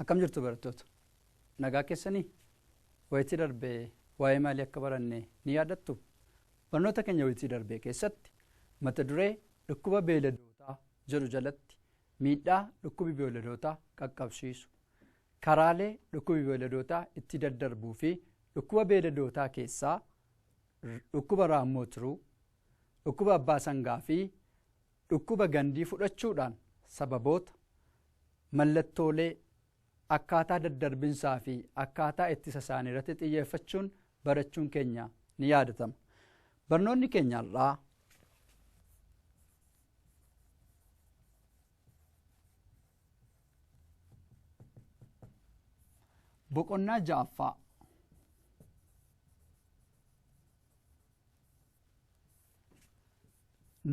Akkam jirtu barattoota? Nagaa keessanii? Wayitii darbee waa'ee maalii akka baranne ni yaadattu? Barnoota keenya wayitii darbee keessatti mata duree dhukkuba beeyladootaa jedhu jalatti miidhaa dhukkubi beeyladootaa qaqqabsiisu Karaalee dhukkubi beeladootaa itti daddarbuu fi dhukkuba beeladootaa keessaa dhukkuba raammoo tiruu, dhukkuba abbaa sangaa fi dhukkuba gandii fudhachuudhaan sababoota, mallattoolee, akkaataa daddarbinsaa fi akkaataa ittisa isaanii irratti xiyyeeffachuun barachuun keenya ni yaadatama. Barnoonni keenya har'aa Boqonnaa ja'affaa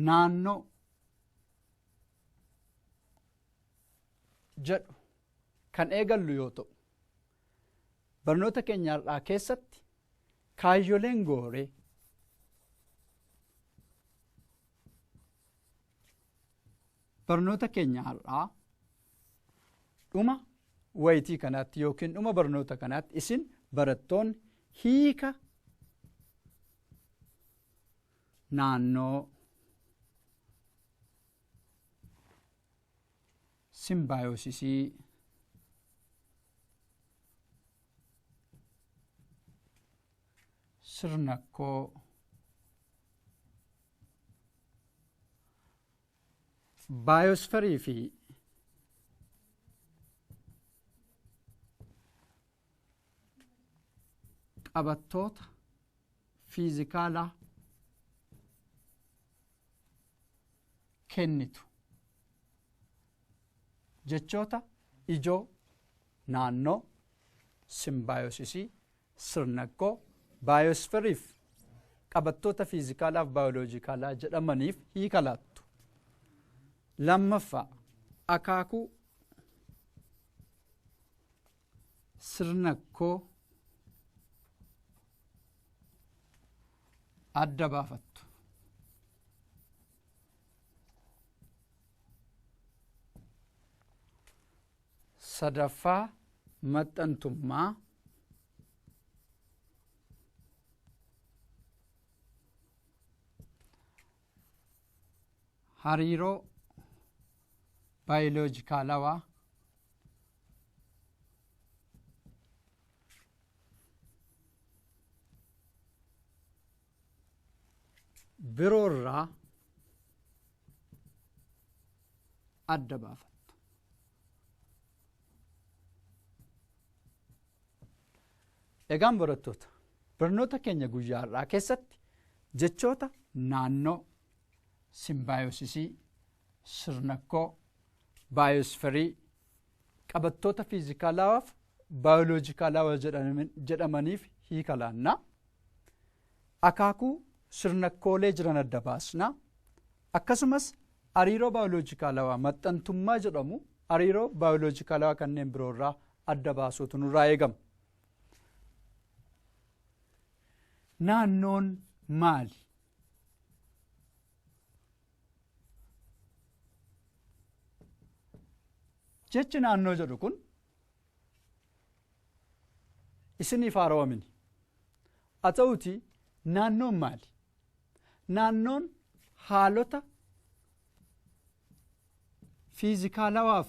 naannoo jedhu kan eegallu yoo ta'u barnoota keenya har'aa keessatti kaayyoleen gooree barnoota keenya har'aa dhuma wayitii kanaatti yookiin dhuma barnoota kanaatti isin barattoonni hiika naannoo simbaayosisii sirna koo baayosferii fi qabattoota fiizikaalaa kennitu jechoota ijoo naannoo simbaayosisii Sirnakkoo, Baayoosferiif, qabattoota fiizikaalaaf baayoloojikaalaa jedhamaniif hiika laattu. Lammaffaa, akaakuu sirnakkoo adda baafattu. sadaffaa maxxantummaa hariiroo baayoloojikaalawaa biroo irraa adda baafattu. Egaan barattoota barnoota keenya guyyaa har'aa keessatti jechoota naannoo simbaayosisii sirnakkoo baayosferii qabattoota fiizikaalawaaf baayoloojikaalawa jedhamaniif hiika laanna. Akaakuu sirnakkoolee jiran adda baasna. Akkasumas hariiroo baayoloojikaalawaa maxxantummaa jedhamu hariiroo baayoloojikaalawaa kanneen biroo irraa adda baasuutu nurraa eegama. Naannoon maali? Jechi naannoo jedhu kun isiniif haarawa miti. Haa ta'uutii naannoon maali? Naannoon haalota fiizikaalawaaf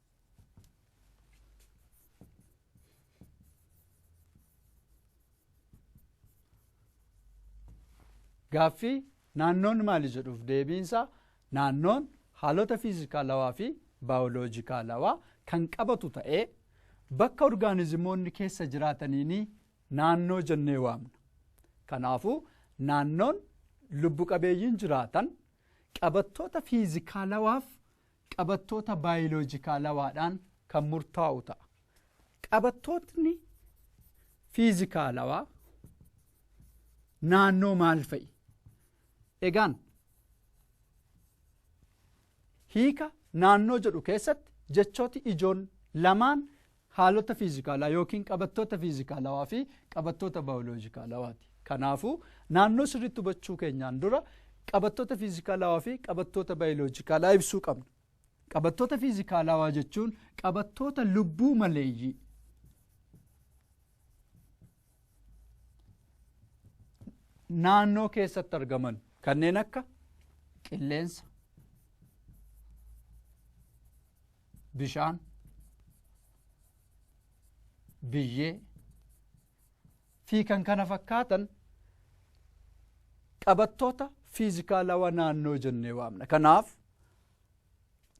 Gaaffii naannoon maali jedhuuf deebiinsa naannoon haalota fiizikaalawaa fi baayoloojikaalawaa kan qabatu ta'ee bakka orgaanizimoonni keessa jiraataniini naannoo jennee waamna. Kanaafuu naannoon lubbu qabeeyyiin jiraatan qabattoota fiizikaalawaaf qabattoota baayoloojikaalawaadhaan kan murtaa'u ta'a. Qabattootni fiizikaalawaa naannoo maal fa'i? Egaan hiika naannoo jedhu keessatti jechooti ijoon lamaan haalota fiizikaalaa yookiin qabattoota fiizikaalawaa fi qabattoota baayoloojikaalawaati. Kanaafuu naannoo sirriitti hubachuu keenyaan dura qabattoota fiizikaalawaa fi qabattoota baayoloojikaalaa ibsuu qabna. Qabattoota fiizikaalawaa jechuun qabattoota lubbuu maleeyyii naannoo keessatti argaman kanneen akka qilleensa, bishaan biyyee fi kan kana fakkaatan qabattoota fiizikaalawaa naannoo jennee waamna. Kanaaf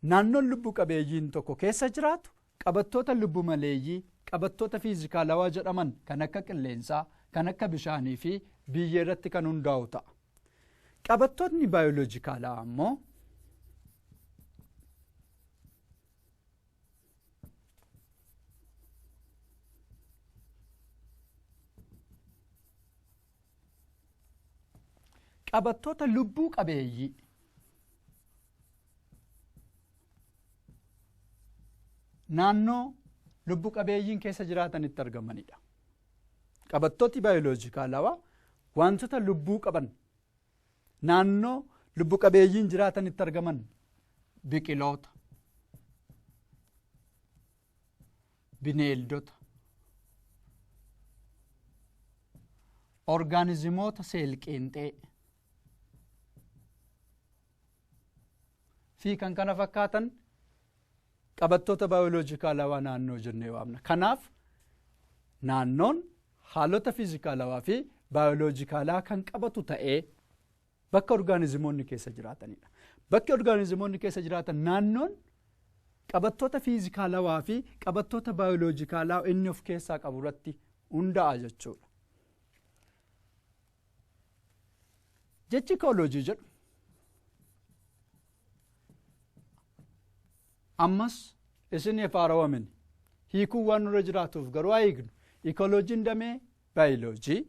naannoon lubbu qabeeyyiin tokko keessa jiraatu qabattoota lubbu maleeyyii qabattoota fiizikaalawaa jedhaman kan akka qilleensaa, kan akka bishaanii fi biyyee irratti kan hundaa'u ta'a. Qabattootni baayoloojikaalaa ammoo qabattoota lubbuu qabeeyyii naannoo lubbu qabeeyyiin keessa jiraatanitti argamanidha. Qabattooti baayoloojikaalawaa wantoota lubbuu qaban naannoo lubbu qabeeyyiin jiraatanitti argaman biqiloota bineeldota orgaanizimoota seelqeenxee fi kan kana fakkaatan Qabattoota baayoloojikaalawaa naannoo jennee waamna. Kanaaf naannoon haalota fiizikaalawaa fi baayoloojikaalaa kan qabatu ta'ee bakka orgaanizimoonni keessa jiraatanidha. Bakki orgaanizimoonni keessa jiraatan naannoon qabattoota fiizikaalawaa fi qabattoota baayoloojikaalaa inni of keessaa qabu irratti hundaa'a jechuudha. Jechi ikooloojii jedhu ammas isiniif haarawamin hiikuun waan nurra jiraatuuf garuu haa hiiknu. Ikooloojiin damee baayiloojii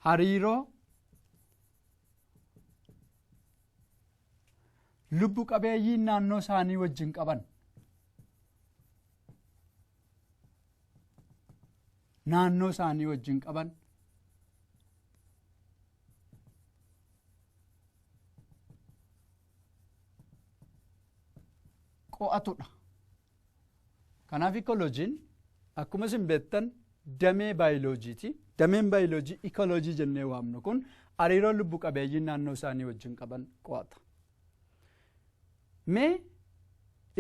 hariiroo lubbu qabeeyyii naannoo isaanii wajjin qaban naannoo isaanii wajjin qaban qo'atudha. Kanaaf ikolojiin akkuma isin beektan damee baayiloojiiti. Dameen baayilojii ikoloojii jennee waamnu kun hariiroo lubbu qabeeyyiin naannoo isaanii wajjin qaban qo'ata. Mee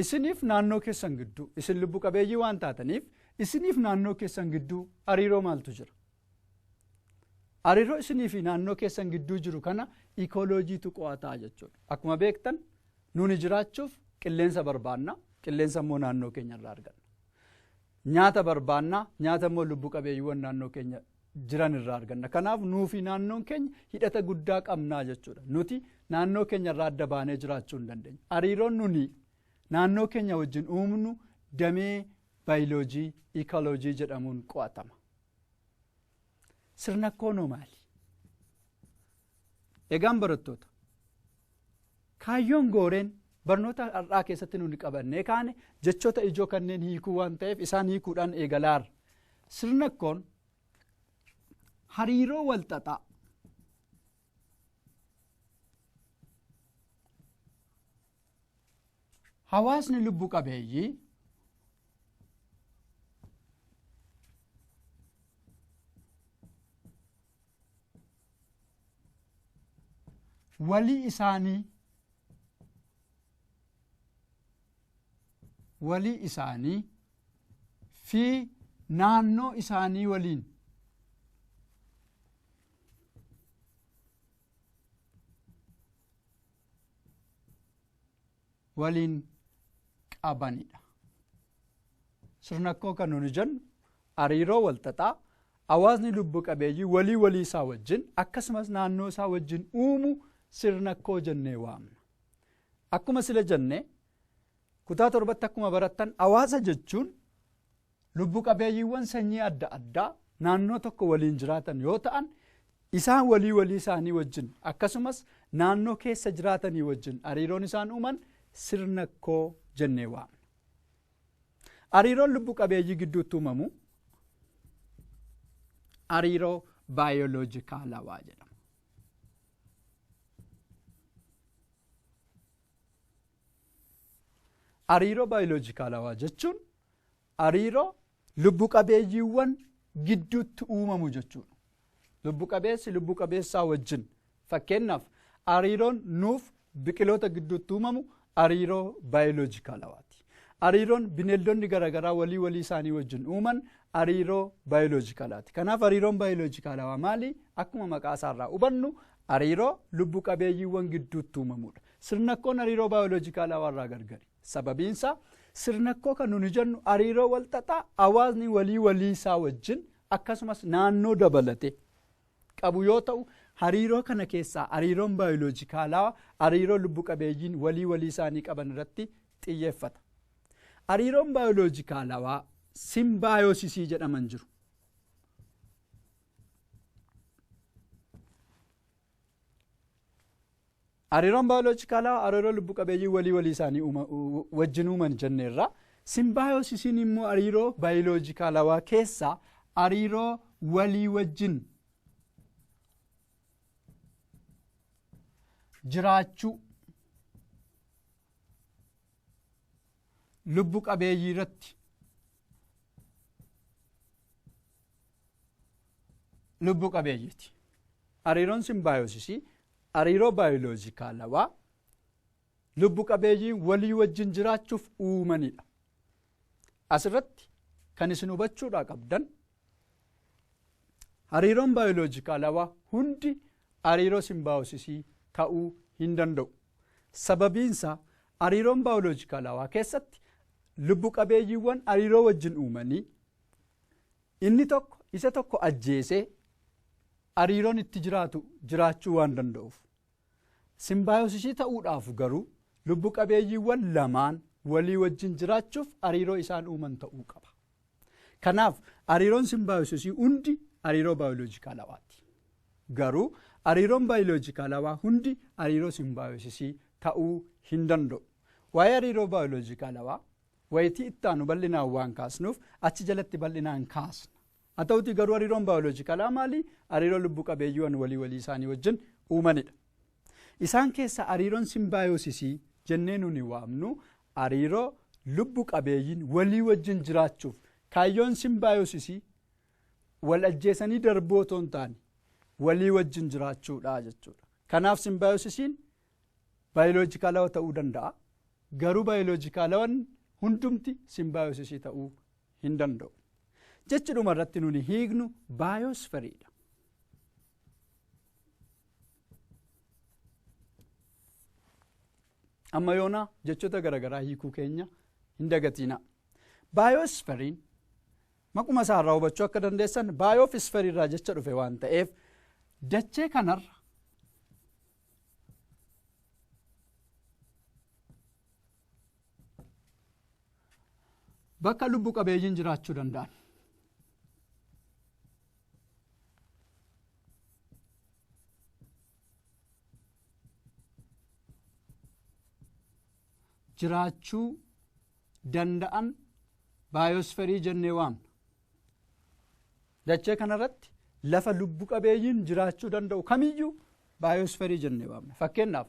isiniif naannoo keessan gidduu isin lubbu qabeeyyii waan taataniif isiniif naannoo keessan gidduu hariiroo maaltu jira? Hariiroo isinii fi naannoo keessan gidduu jiru kana ikoloojiitu qo'ataa jechuudha. Akkuma beektan nuuni jiraachuuf qilleensa barbaanna, qilleensa immoo naannoo keenya irraa arganna. Nyaata barbaanna, nyaata immoo lubbu qabeeyyiiwwan naannoo keenya jiran irraa arganna. Kanaaf nuu fi naannoon keenya hidhata guddaa qabnaa jechuudha. Nuti naannoo keenya irraa adda baanee jiraachuu hin dandeenyu. Hariiroon nuni naannoo keenya wajjin uumnu damee baayiloojii, ikoloojii jedhamuun qo'atama. Sirna koonoo maali? Egaan barattoota kaayyoon gooreen barnoota har'aa keessatti nuti qabannee kaane jechoota ijoo kanneen hiikuu waan ta'eef isaan hiikuudhaan eegalaarra. Sirna koon hariiroo walxaxaa Hawaasni lubbu qabeeyyii walii isaanii walii isaanii fi naannoo isaanii waliin waliin qabanidha. Sirnakkoo kan nuti jennu hariiroo walxaxaa hawaasni lubbu qabeeyyii walii walii isaa wajjin akkasumas naannoo isaa wajjin uumu sirnakkoo jennee waamna. Akkuma sila jenne kutaa torbatti akkuma barattan hawaasa jechuun Lubbu qabeeyyiiwwan sanyii adda addaa naannoo tokko waliin jiraatan yoo ta'an isaan walii walii isaanii wajjin akkasumas naannoo keessa jiraatanii wajjin hariiroon isaan uuman sirna koo jennee waamna. Hariiroon lubbu qabeeyyii gidduutti uumamu hariiroo baayoloojikaalawaa jedhama. Hariiroo baayoloojikaalawaa jechuun Hariiroo lubbu qabeeyyiiwwan gidduutti uumamu jechuudha. Lubbu qabeessi lubbu qabeessaa wajjin fakkeenyaaf hariiroon nuuf biqiloota gidduutti uumamu hariiroo baayoloojikaalawaati. Hariiroon bineeldonni garaagaraa walii walii isaanii wajjin uuman hariiroo baayoloojikaalaati. Kanaaf hariiroon baayoloojikaalawaa maali? Akkuma maqaa isaarraa hubannu hariiroo lubbu qabeeyyiiwwan gidduutti uumamudha. Sirnakkoon hariiroo baayoloojikaalawaarraa gargari. Sababiinsaa sirnakkoo kan nuni jennu hariiroo walxaxaa hawaasni walii walii isaa wajjin akkasumas naannoo dabalatee qabu yoo ta'u hariiroo kana keessaa hariiroon baayoloojikaalaa hariiroo lubbu qabeeyyiin walii walii isaanii qaban irratti xiyyeeffata. Hariiroon baayoloojikaalawaa simbaayosisii jedhaman jiru. Hariiroon baayoloojikaalaa hariiroo lubbu qabeeyyii walii walii isaanii uuma- u- wajjin uuman jenneerra. Simbaayosisiin immoo hariiroo baayoloojikaalawaa keessaa hariiroo walii wajjin jiraachuu lubbu qabeeyyii irratti lubbu qabeeyyiiti. Hariiroon simbaayosisii hariiroo baayoloojikaalawaa lubbu qabeeyyiin walii wajjin jiraachuuf uumanidha. Asirratti kan isin hubachuudhaa qabdan hariiroon baayoloojikaalawaa hundi hariiroo simbaayosisii ta'uu hin danda'u. Sababiinsaa hariiroon baayoloojikaalawaa keessatti lubbu qabeeyyiiwwan hariiroo wajjin uumanii Inni tokko isa tokko ajjeesee ariiroon itti jiraatu jiraachuu waan danda'uuf. Simbaayosisii ta'uudhaaf garuu lubbu qabeeyyiiwwan lamaan walii wajjin jiraachuuf ariiroo isaan uuman ta'uu qaba. Kanaaf ariiroon simbaayosisii hundi ariiroo baayoloojikaalawaati. Garuu ariiroon baayoloojikaalawaa hundi ariiroo simbaayosisii ta'uu hin danda'u. Waa'ee ariiroo baayoloojikaalawaa Wayitii itti aanu bal'inaan waan kaasnuuf achi jalatti bal'inaan kaasna. Haa ta'utii garuu hariiroon baayoloojikalaa maali? Hariiroo lubbu qabeeyyiiwan walii walii isaanii wajjin uumanidha. Isaan keessaa hariiroon simbaayosisii jennee nuni waamnu hariiroo lubbu qabeeyyiin walii wajjin jiraachuuf kaayyoon simbaayosisii wal ajjeesanii darbuu otoo hin taane walii wajjin jiraachuudha jechuudha. Kanaaf simbaayosisiin Baayoloojikaalawa ta'uu danda'a. Garuu baayoloojikaalawan hundumti simbaayosisii ta'uu hin danda'u. Jechi dhuma irratti nuni hiiknu baayosferiidha. Amma yoona jechoota garaagaraa hiikuu keenya hin dagatiina. Baayosferiin maquma isaa irraa hubachuu akka dandeessan baayoof isferii irraa jecha dhufe waan ta'eef dachee kanarra bakka lubbu qabeeyyiin jiraachuu danda'an. jiraachuu danda'an baayosferii jennee waamna. Dachee kanarratti lafa lubbu qabeeyyiin jiraachuu danda'u kamiyyuu baayosferii jennee waamna. Fakkeenyaaf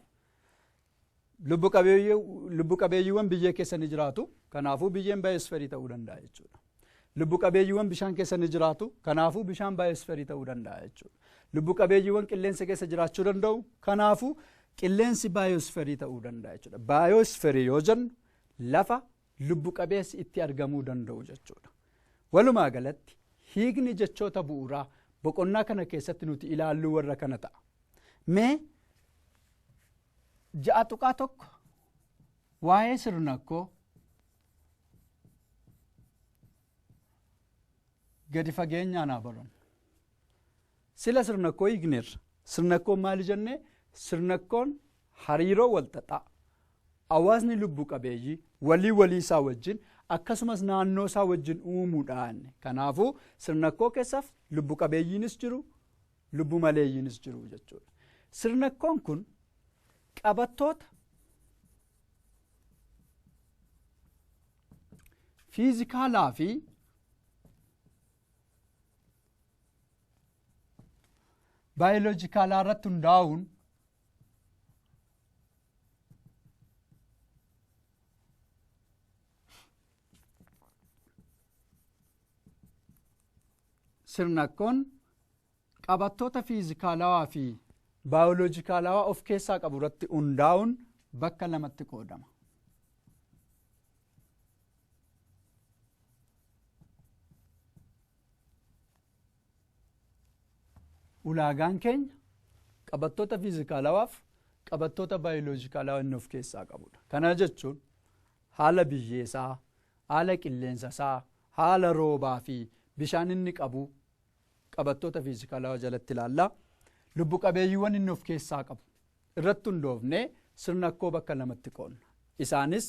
lubbu qabeeyyii- lubbu qabeeyyiiwwan biyyee keessa ni jiraatu. Kanaafuu biyyeen baayosferii ta'uu danda'a jechuudha. Lubbu qabeeyyiiwwan bishaan keessa ni jiraatu. Kanaafuu bishaan baayosferii ta'uu danda'a jechuudha. Lubbu qabeeyyiiwwan qilleensa keessa jiraachuu danda'u. Kanaafuu qilleensi baayosferii ta'uu danda'a jechuudha. Baayosferii yoo jennu lafa lubbu qabeessi itti argamuu danda'u jechuudha. Walumaa galatti hiikni jechoota bu'uuraa boqonnaa kana keessatti nuti ilaalluu warra kana ta'a. Mee ja'a tuqaa tokko waa'ee sirnakkoo gadi fageenyaan haa barannu. Sila sirnakkoo hiikneerra. Sirnakkoon maali jennee? Sirnakkoon Hariiroo walxaxaa hawaasni lubbu qabeeyyii walii walii isaa wajjin akkasumas naannoo isaa wajjin uumuudhaan kanaafuu sirnakkoo keessaaf lubbu qabeeyyiinis jiru lubbu maleeyyiinis jiru jechuudha. Sirnakkoon kun qabattoota fiizikaalaa fi baayoloojikaalaa irratti hundaa'uun sirnakkoon qabattoota fiizikaalawaa fi baayoloojikaalawaa of keessaa qabu irratti hundaa'uun bakka lamatti qoodama. Ulaagaan keenya qabattoota fiizikaalawaaf qabattoota baayoloojikaalawaa inni of keessaa qabudha. Kana jechuun haala biyyeesaa, haala qilleensasaa, haala roobaa fi bishaan inni qabu qabattoota fiizikaalawaa jalatti ilaalla. Lubbu qabeeyyiiwwan inni of keessaa qabu irratti hundoofnee sirna akkoo bakka lamatti qoonna. Isaanis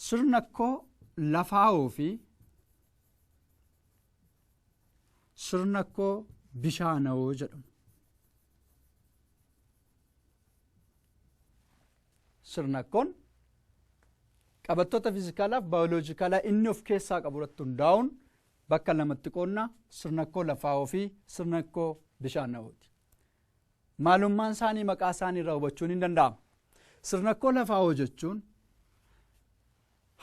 Sirna koo lafaawoo fi sirna koo bishaanawoo jedhamu. Sirna kun qabattoota fiizikaalaaf baayoloojikaalaa inni of keessaa qabu irratti hundaa'uun bakka lamatti qoodna sirna koo lafaawoo fi sirna koo bishaanawooti. Maalummaan isaanii maqaa isaanii irraa hubachuun hin danda'amu. Sirnakkoo lafaa hojechuun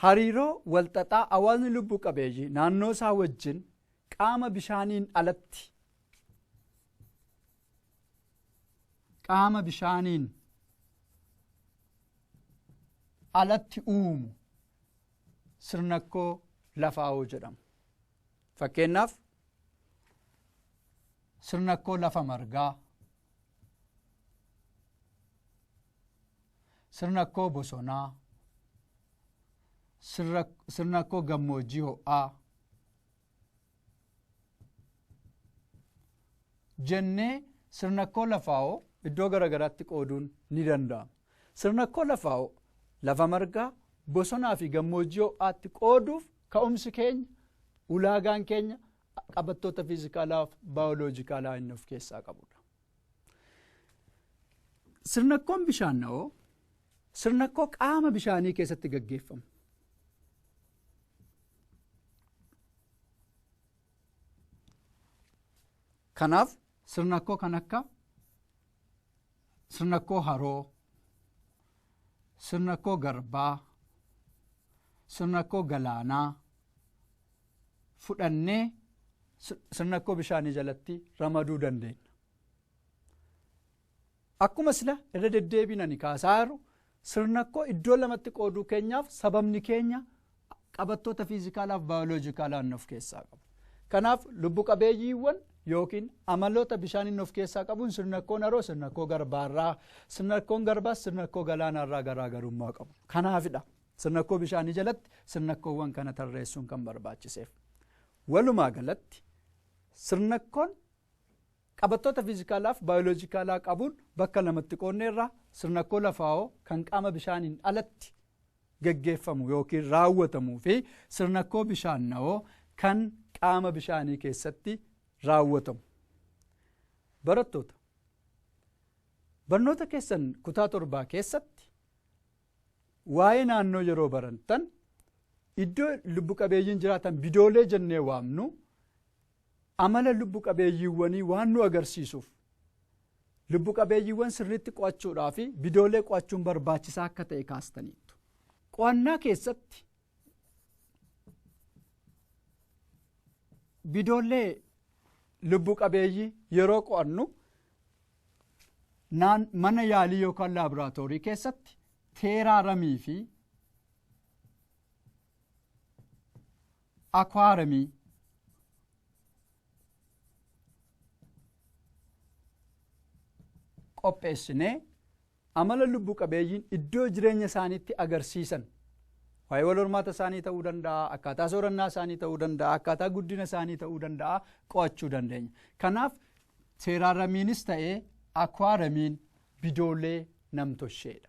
hariiroo walxaxaa hawaasni lubbu qabeeyyii naannoo isaa wajjin qaama bishaaniin alatti qaama bishaaniin alatti uumu sirnakkoo lafaawoo jedhamu. Fakkeenyaaf Sirnakkoo lafa margaa. Sirnakkoo bosonaa. Sirnakkoo gammoojjii ho'aa. Jennee sirnakkoo lafaa'oo iddoo garaagaraatti qooduun ni danda'ama. Sirnakkoo lafaa'oo lafa margaa bosonaa fi gammoojjii ho'aatti qooduuf Ka'umsi keenya, ulaagaan keenya qabattoota fiizikaalaa fi baayoloojikaalaa inni of keessaa qabudha. Sirnakkoon bishaanna'oo sirnakkoo qaama bishaanii keessatti gaggeeffamu. Kanaaf sirnakkoo kan akka sirna koo haroo sirna koo garbaa sirna koo galaanaa fudhannee sirna koo bishaanii jalatti ramaduu dandeenya. Akkuma sila irra deddeebiin ani kaasaa jiru Sirnakkoo iddoo lamatti qooduu keenyaaf sababni keenya qabattoota fiizikaalaaf baayoloojikaalaa inni of keessaa qabu. Kanaaf lubbu qabeeyyiiwwan yookiin amaloota bishaan inni of keessaa qabuun sirnakkoon haroo sirnakkoo garbaarraa sirnakkoon garbaas sirnakkoo galaanaarraa garaagarummaa qabu. Kanaafidha sirnakkoo bishaanii jalatti sirnakkoowwan kana tarreessuun kan barbaachiseef. Walumaa galatti sirnakkoon Qabattoota fiizikaalaaf baayoloojikaalaa qabuun bakka lamatti qoodneerra, sirnakkoo lafaawoo kan qaama bishaaniin alatti geggeeffamu yookiin raawwatamuu fi sirnakkoo bishaannawoo kan qaama bishaanii keessatti raawwatamu. Barattoota, barnoota keessan kutaa torbaa keessatti waa'ee naannoo yeroo barantan iddoo lubbu qabeeyyiin jiraatan bidoolee jennee waamnu Amala lubbu qabeeyyiiwwanii waan nu agarsiisuuf, lubbu qabeeyyiiwwan sirriitti qo'achuudhaafi bidoolee qo'achuun barbaachisaa akka ta'e kaastaniittu. Qo'annaa keessatti bidoollee lubbu qabeeyyii yeroo qo'annu naan mana yaalii yookaan laaboraatoorii keessatti teeraaramii fi Akwaaremii. qopheessinee amala lubbu qabeeyyiin iddoo jireenya isaaniitti agarsiisan waa'ee wal hormaata isaanii ta'uu danda'a akkaataa soorannaa isaanii ta'uu danda'a akkaataa guddina isaanii ta'uu danda'a qo'achuu dandeenya kanaaf teeraaramiinis ta'ee akwaaramiin bidoolee namtosheedha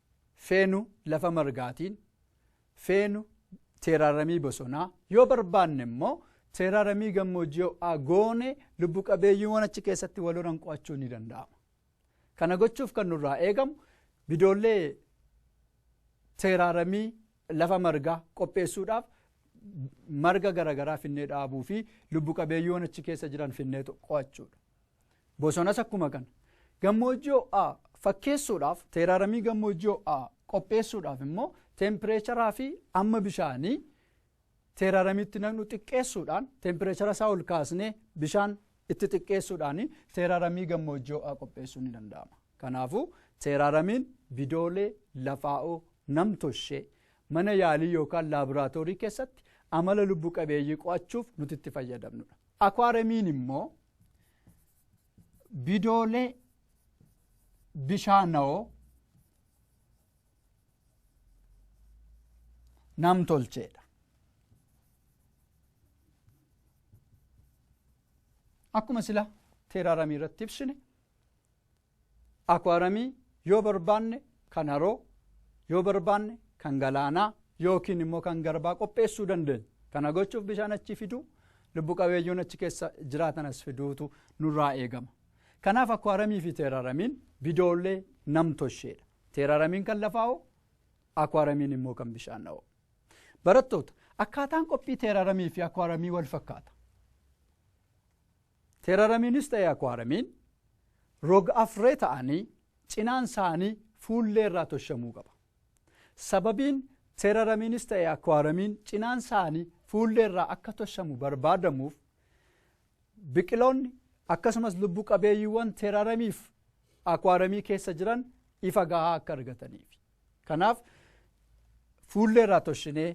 feenu lafa margaatiin, feenu teeraaramii bosonaa, yoo barbaanne immoo teeraaramii gammoojjii ho'aa goone lubbu qabeeyyiiwwan achi keessatti wal horan qo'achuun ni danda'ama. Kana gochuuf kan nurraa eegamu bidoollee teeraaramii lafa margaa qopheessuudhaaf marga garaagaraa finnee dhaabuu fi lubbu qabeeyyiiwwan achi keessa jiran finnee qo'achuudha. Bosonas akkuma kana. Gammoojjii ho'aa fakkeessuudhaaf teeraaramii gammoojjii ho'aa qopheessuudhaaf immoo teempireecharaa fi amma bishaanii teeraaramiitti naqnu xiqqeessuudhaan teempireechara isaa ol kaasnee bishaan itti xiqqeessuudhaan teeraaramii gammoojjii ho'aa qopheessuun ni danda'ama. Kanaafuu teeraaramiin bidoolee lafaa'oo namtoshee mana yaalii yookaan laaboraatoorii keessatti amala lubbu qabeeyyii qo'achuuf nuti itti fayyadamnudha. Akwaaramiin immoo bidoolee bishaanawoo namtolcheedha. Akkuma sila teeraaramii irratti ibsine Akuwaramii yoo barbaanne kan haroo, yoo barbaanne kan galaanaa yookiin immoo kan garbaa qopheessuu dandeenya. Kana gochuuf bishaan achii fiduu, lubbu qabeeyyoon achi keessa jiraatan as fiduutu nurraa eegama. Kanaaf akuwaramii fi teeraramiin bidoollee namtosheedha. Teeraramiin kan lafaa'oo, akuwaramiin immoo kan bishaana'oo. Barattoota, akkaataan qophii teeraramii fi akuwaramii wal fakkaata. Teeraramiinis ta'e akuwaaramiin rog-afree ta'anii cinaan isaanii fuullee irraa toshamuu qaba. Sababiin teeraramiinis ta'e akuwaaramiin cinaan isaanii fuullee irraa akka toshamu barbaadamuuf biqiloonni akkasumas lubbu qabeeyyiiwwan teeraramiif akuwaaramii keessa jiran ifa gahaa akka argataniif. Kanaaf fuullee irraa toshinee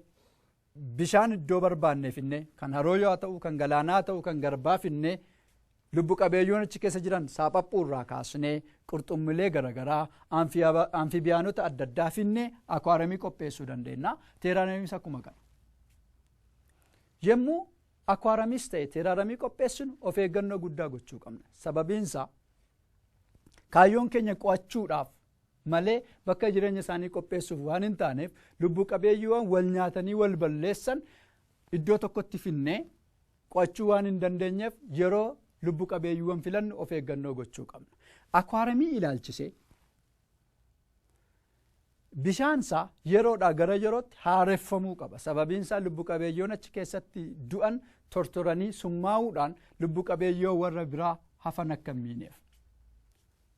bishaan iddoo barbaanne finnee kan harooyoo haa ta'uu kan galaanaa haa ta'uu kan garbaa finnee lubbu qabeeyyoon achi keessa jiran saaphaphuu irraa kaasnee qurxummilee garaagaraa anfibiyaanota adda addaa finnee akwaaramii qopheessuu dandeenya teeraaramiis akkuma kana. Yommuu akwaaramiis ta'e teeraaramii qopheessinu of eeggannoo guddaa gochuu qabna sababiinsaa kaayyoon keenya qo'achuudhaaf malee bakka jireenya isaanii qopheessuuf waan hin taaneef lubbu qabeeyyiiwwan wal nyaatanii wal balleessan iddoo tokkotti finnee qo'achuu waan hin dandeenyeef yeroo lubbu qabeeyyiiwwan filannu of eeggannoo gochuu qabna. Akwaaramii ilaalchisee bishaansaa yeroodhaa gara yerootti haareffamuu qaba. Sababiinsaa lubbu qabeeyyoon achi keessatti du'an tortoranii summaa'uudhaan lubbu qabeeyyoo warra biraa hafan akka hin miineef.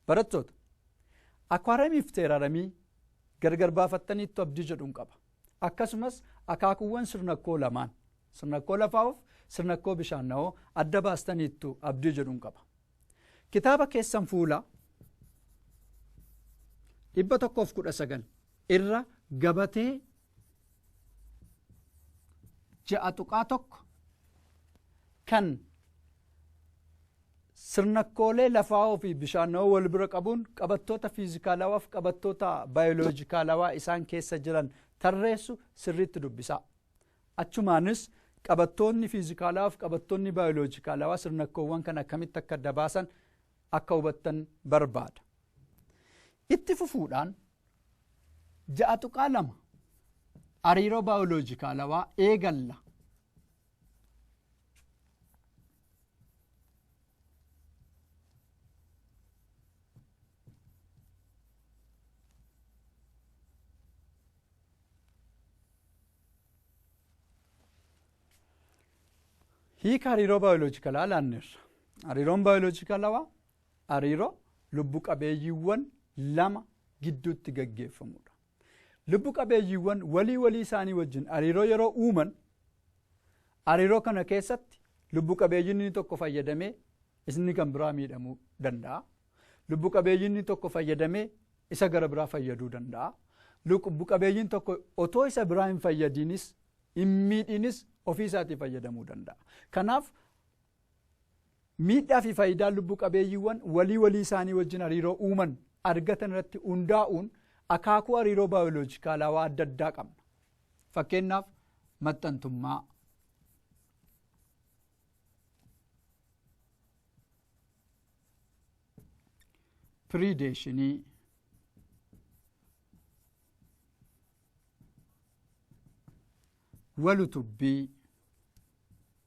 Barattoota! Akwaaramiif teeraramii gargar baafattaniittu abdii jedhun qaba. Akkasumas akaakuuwwan sirnakkoo lamaan, sirnakkoo lafaa'oof sirnakkoo bishaanna'oo adda baastaniittu abdii jedhun qaba. Kitaaba keessan fuula 119 irra gabatee ja'a tuqaa tokko kan sirnakkoolee lafaa'oo fi bishaanawoo wal bira qabuun qabattoota fiizikaalawaa fi qabattoota baayoloojikaalawaa isaan keessa jiran tarreessu sirriitti dubbisaa. Achumaanis qabattoonni fiizikaalawaa fi qabattoonni baayoloojikaalawaa sirnakkoowwan kan akkamitti akka dabaasan akka hubattan barbaada. Itti fufuudhaan ja'a tuqaa lama hariiroo baayoloojikaalawaa eegalla. hiika hariiroo baayoloojikalaa laanneerra. Hariiroon baayoloojikalawaa Hariiroo lubbu qabeeyyiiwwan lama gidduutti gaggeeffamu dha. Lubbu qabeeyyiiwwan walii walii isaanii wajjin hariiroo yeroo uuman, hariiroo kana keessatti lubbu qabeeyyiin inni tokko fayyadamee isni kan biraa miidhamuu danda'a. Lubbu qabeeyyiin inni tokko fayyadamee isa gara biraa fayyaduu danda'a. Lubbu qabeeyyiin tokko otoo isa biraa hin fayyadiinis hin miidhiinis ofii isaatii fayyadamuu danda'a. Kanaaf Miidhaa fi faayidaan lubbu qabeeyyiiwwan walii walii isaanii wajjin hariiroo uuman argatan irratti hundaa'uun akaakuu hariiroo baayoloojikaalaawaa adda addaa qabna. Fakkeenyaaf maxxantummaa. Piriideeshinii. Walutubbii.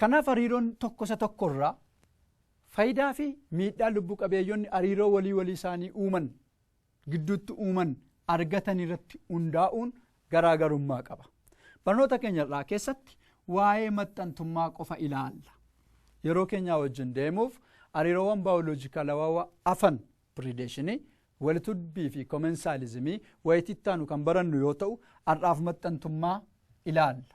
Kanaaf hariiroon tokko isa tokko irraa fayidaa fi miidhaa lubbu qabeeyyonni hariiroo walii walii isaanii uuman gidduutti uuman argatan irratti hundaa'uun garaagarummaa qaba. Barnoota keenya irraa keessatti waa'ee maxxantummaa qofa ilaalla. Yeroo keenyaa wajjin deemuuf hariiroowwan baayoloojikalawaa afan pirideeshinii walitudbii fi komensaalizimii wayitittaanu kan barannu yoo ta'u har'aaf maxxantummaa ilaalla.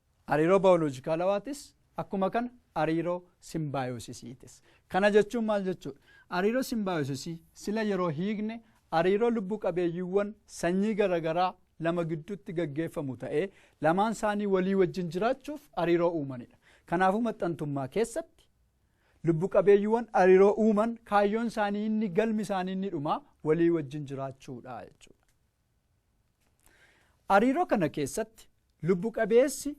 Hariiroo baayoloojikaalawaatiis akkuma kana hariiroo simbaayosisiitis. Kana jechuun maal jechuudha? Hariiroo simbaayosisii sila yeroo hiikne hariiroo lubbu qabeeyyiiwwan sanyii garagaraa lama gidduutti gaggeeffamu ta'ee lamaan isaanii walii wajjin jiraachuuf hariiroo uumanidha. Kanaafuu maxxantummaa keessatti lubbu qabeeyyiiwwan hariiroo uuman kaayyoon isaanii inni galmi isaanii inni dhumaa walii wajjin jiraachuudha jechuudha. Hariiroo kana keessatti lubbu qabeessi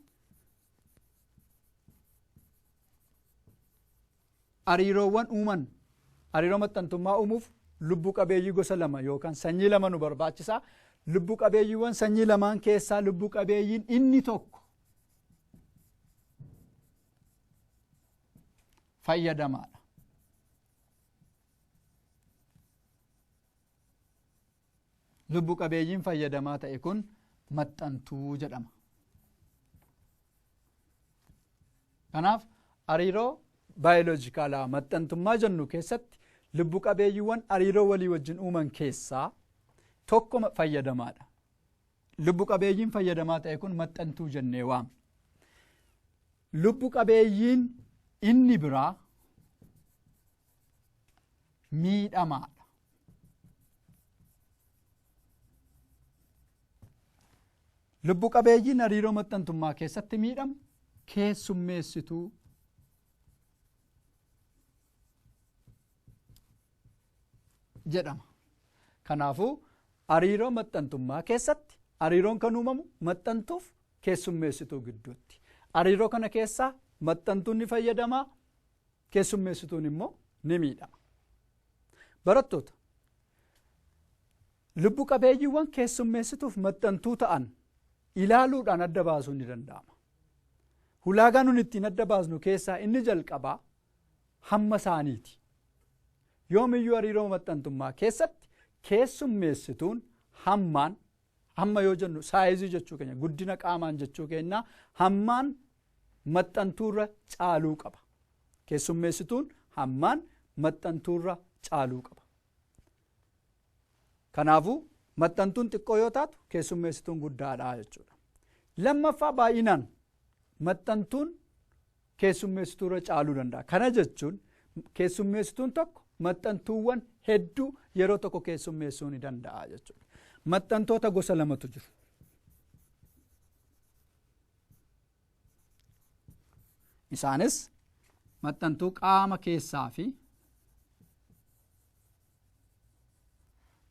hariiroowwan uuman hariiroo maxxantummaa uumuuf lubbu qabeeyyii gosa lama yookaan sanyii lama nu barbaachisa. Lubbu qabeeyyiiwwan sanyii lamaan keessaa lubbu qabeeyyiin inni tokko fayyadamaadha. Lubbu qabeeyyiin fayyadamaa ta'e kun maxxantuu jedhama. Kanaaf hariiroo baayoloojikaalaa maxxantummaa jennu keessatti lubbu qabeeyyiiwwan hariiroo walii wajjin uuman keessaa tokko fayyadamaadha. Lubbu qabeeyyiin fayyadamaa ta'e kun maxxantuu jennee waamna. Lubbu qabeeyyiin inni biraa miidhamaadha. Lubbu qabeeyyiin hariiroo maxxantummaa keessatti miidhamu keessummeessituu jedhama. Kanaafuu hariiroo maxxantummaa keessatti hariiroon kan uumamu maxxantuuf keessummeessituu gidduutti. Hariiroo kana keessaa maxxantuun ni fayyadamaa, keessummeessituun immoo ni miidhama. Barattoota lubbu qabeeyyiiwwan keessummeessituuf maxxantuu ta'an ilaaluudhaan adda baasuun ni danda'ama. Hulaagaa nun ittiin adda baasnu keessaa inni jalqabaa hamma isaaniiti. Yoomiyyuu hariiroo maxxantummaa keessatti keessummeessituun hammaan Hamma yoo jennu saayizii jechuu keenya guddina qaamaan jechuu keenya hammaan maxxantuurra caaluu qaba. Keessummeessituun hammaan maxxantuurra caaluu qaba. Kanaafuu maxxantuun xiqqoo yoo taatu keessummeessituun guddaadha jechuudha. Lammaffaa baay'inaan maxxantuun keessummeessituurra caaluu danda'a. Kana jechuun keessummeessituun tokko maxxantuuwwan hedduu yeroo tokko keessummeessuu ni danda'a jechuudha. Maxxantoota gosa lamatu jiru. Isaanis maxxantuu qaama keessaa fi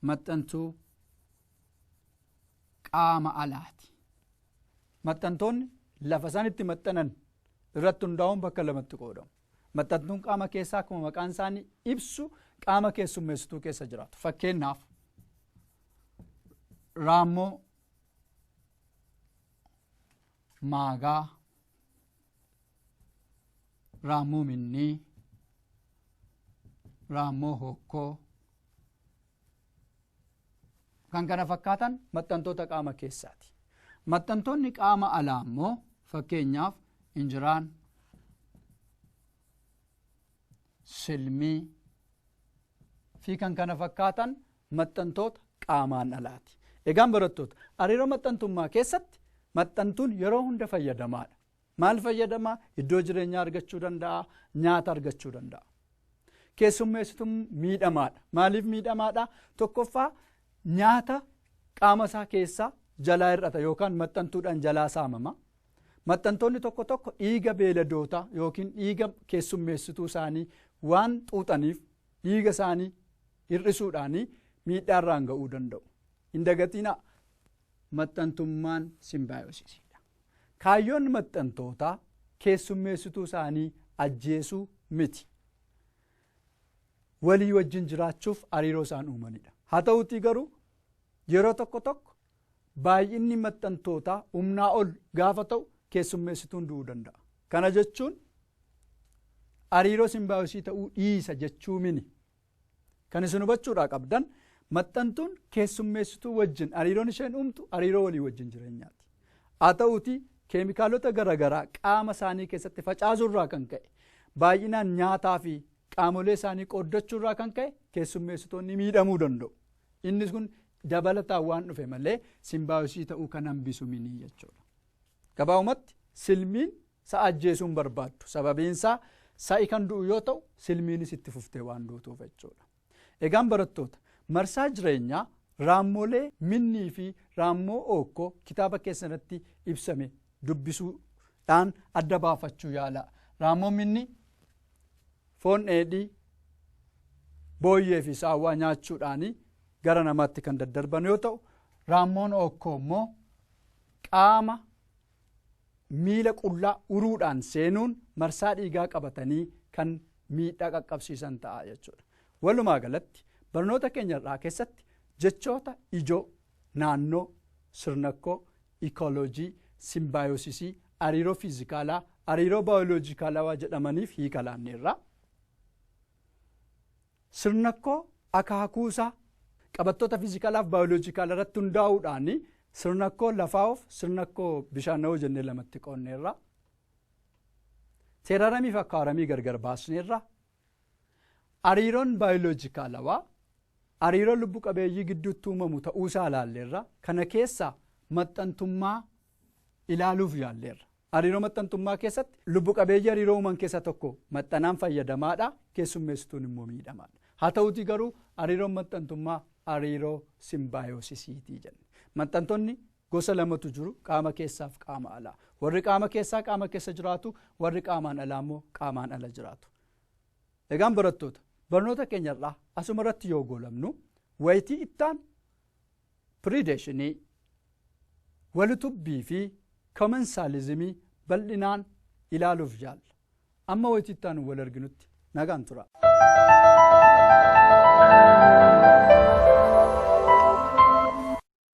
maxxantuu qaama alaati. Maxxantoonni lafa isaan itti maxxanan irratti hundaa'uun bakka lamatti qoodamu. Maxxantuun qaama keessaa akkuma maqaan isaanii ibsu qaama keessummeessituu keessa jiraatu. Fakkeenyaaf raammoo maagaa raammoo minnii raammoo hokkoo kan kana fakkaatan maxxantoota qaama keessaati. Maxxantoonni qaama alaa immoo fakkeenyaaf injiraan silmii fi kan kana fakkaatan maxxantoota qaamaan alaati. Egaan barattoota hariiroo maxxantummaa keessatti maxxantuun yeroo hunda fayyadamaadha. Maal fayyadama? Iddoo jireenyaa argachuu danda'a, nyaata argachuu danda'a. Keessummeessitu miidhamaadha. Maaliif miidhamaadha? Tokkoffaa nyaata qaama isaa keessaa jalaa hir'ata yookaan maxxantuudhaan jalaa saamama. Maxxantoonni tokko tokko dhiiga beeladootaa yookiin dhiiga keessummeessituu isaanii waan xuuxaniif dhiiga isaanii hir'isuudhaanii miidhaarraan ga'uu danda'u. Hin dagatinaa Maxxantummaan simbaayosisii dha. Kaayyoon maxxantootaa keessummeessituu isaanii ajjeesuu miti. Walii wajjin jiraachuuf hariiroo isaan uumani dha. Haa ta'uutii garuu yeroo tokko tokko baay'inni maxxantootaa humnaa ol gaafa ta'u keessummeessituun du'uu danda'a. Kana jechuun hariiroo simbaayosii ta'uu dhiisa jechuu mini. Kan isin hubachuudhaa qabdan maxxantuun keessummeessituu wajjin hariiroon isheen uumtu hariiroo walii wajjin jireenyaati. Haa ta'uutii keemikaalota garaagaraa qaama isaanii keessatti facaasuurraa kan ka'e baay'inaan nyaataa fi qaamolee isaanii qooddachuurraa kan ka'e keessummeessitoonni miidhamuu danda'u. Innis kun dabalataan waan dhufe malee simbaayosii ta'uu kan hambisu miti jechuudha. Gabaabumatti, Silmiin sa'a ajjeesuu hin barbaaddu. Sababiinsaa sa'i kan du'u yoo ta'u, silmiinis itti fuftee waan duutuuf jechuudha. Egaan barattoota, marsaa jireenyaa raammolee minnii fi raammoo ookkoo kitaaba keessanitti ibsame dubbisuu dhaan adda baafachuu yaalaa. Raammoon minnii foon dheedhii, booyyee fi saawwaa nyaachuudhaanii gara namaatti kan daddarban yoo ta'u, raammoon ookkoo immoo qaama miila qullaa uruudhaan seenuun marsaa dhiigaa qabatanii kan miidhaa qaqqabsiisan ta'a jechuudha. Walumaa galatti barnoota keenya irraa keessatti jechoota ijoo naannoo, sirnakkoo, ikooloojii, simbaayosisii, hariiroo fiizikaalaa, hariiroo baayoloojikaalawaa jedhamaniif hiika laanneerra. Sirnakkoo akaakuu isaa. Qabattoota fiizikalaaf baayoloojikaal irratti hundaa'uudhaan sirnakkoo lafaa'oof sirnakkoo bishaanawoo jennee lamatti qoonneerra. Teeraramii fi akkaaramii gargar baasneerra. Hariiroon baayoloojikaalawaa hariiroo lubbu qabeeyyii gidduutti uumamu ta'uusaa ilaalleerra. Kana keessaa maxxantummaa ilaaluuf yaalleerra. Hariiroo maxxantummaa keessatti lubbu qabeeyyii hariiroo uuman keessaa tokko maxxanaan fayyadamaadha, keessummeessituun immoo miidhamaadha. Haa ta'uutii garuu hariiroon maxxantummaa hariiroo simbaayosisiitii jenne. Maxxantonni gosa lamatu jiru qaama keessaaf qaama alaa. Warri qaama keessaa qaama keessa jiraatu, warri qaamaan alaa immoo qaamaan ala jiraatu. Egaan barattoota barnoota keenyarraa asuma irratti yoo goolabnu wayitii ittaan Piriideeshinii, Walitubbii fi Komensaalizimii bal'inaan ilaaluuf yaalla. Amma wayita itti aanu wal arginutti nagaan tura.